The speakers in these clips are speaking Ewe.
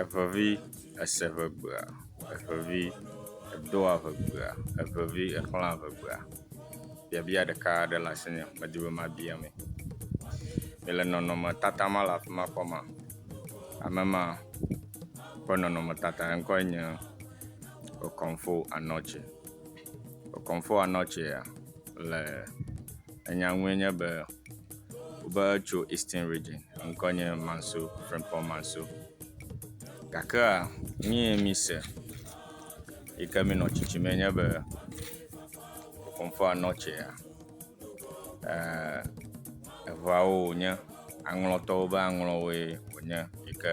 Evevi ese ŋegbea, evevi edoa ŋegbea, evevi exlãa ŋegbea. Biabia ɖeka aɖe le asinye medi be mabia mee. Le nɔnɔmetata ma le afi ma kpɔ maa, ame ma ƒe nɔnɔmetata ŋkɔe nye Okonfo-Addo. Okonfo-Addo le… Enya ŋue nye be wobe tso Eastern Region. Ŋkɔ nye Manso, Frimpong Manso. Gakea nu ye mise yi ke menɔ tsitsi mee nye be Okonkwoa Nortse ya ee eŋuawo wonye. Aŋlɔtɔwo be aŋlɔwoe wonye yi ke.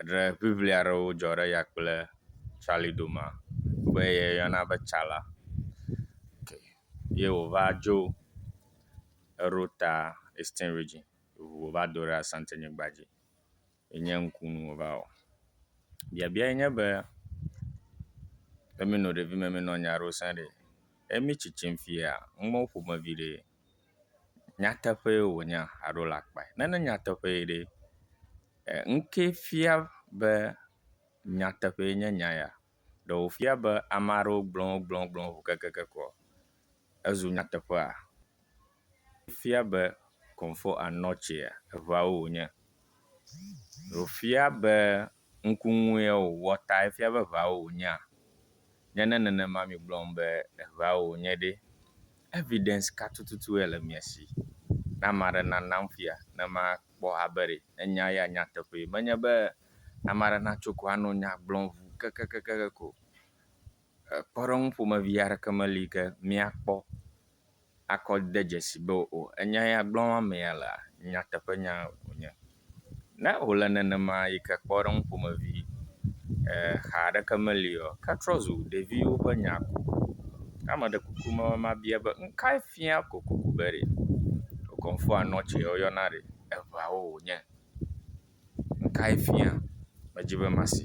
Eɖe ŋiŋli aɖewo dzɔ ɖe eya kple Charlie dome be ye yɔna be tsala ye wova dzo eɖo ta Eastern Region ŋu va do ɖe Asante nyigba dzi yi nye ŋku nu wova wɔ. Biabia nye be ne mi nɔ ɖevi me mi nɔ nya aɖewo se ɖe ye mi tsitsim fiya nume ƒomevi ɖee. nyateƒee wònya alo le akpae. Ne enye nyateƒee ɖe, ŋkɛ fia be nyateƒee nye nya ya? Ɖe wòfia be ame aɖewo gblɔ wo gblɔ wo gblɔ wo kekeke kɔ ezu nyateƒea? Efia be confirm and not share eŋeawo wònye? Ɖe wòfia be ŋkuŋuiwo wòwɔ ta efia be ʋawo wònyea? Ne ne nenema migblɔm be ʋawo wònye ɖe, evidence ka tututue le mia si? Ne ame aɖe nanam fia ne makpɔ abe ɖe enya ya nyateƒee. Menye be ame aɖe natso ko anɔ nya gblɔm ŋu kekekeke ko. Kpɔɖeŋu ƒomevi aɖeke meli ke míakpɔ akɔ de dzesi be o enya ya gblɔm ame ya lea, nyateƒenya wònye. Ne wòle nenema yi ke kpɔɖeŋu ƒomevi e xa aɖeke meli o ke trɔ zu ɖeviwo ƒe nya ko. Ke meɖe kuku me mabia be nu kae fia kokoko be ɖe Okonfo Anokye ye woyɔna ɖe eŋawo wònye? Nu kae fia? Medi be mase.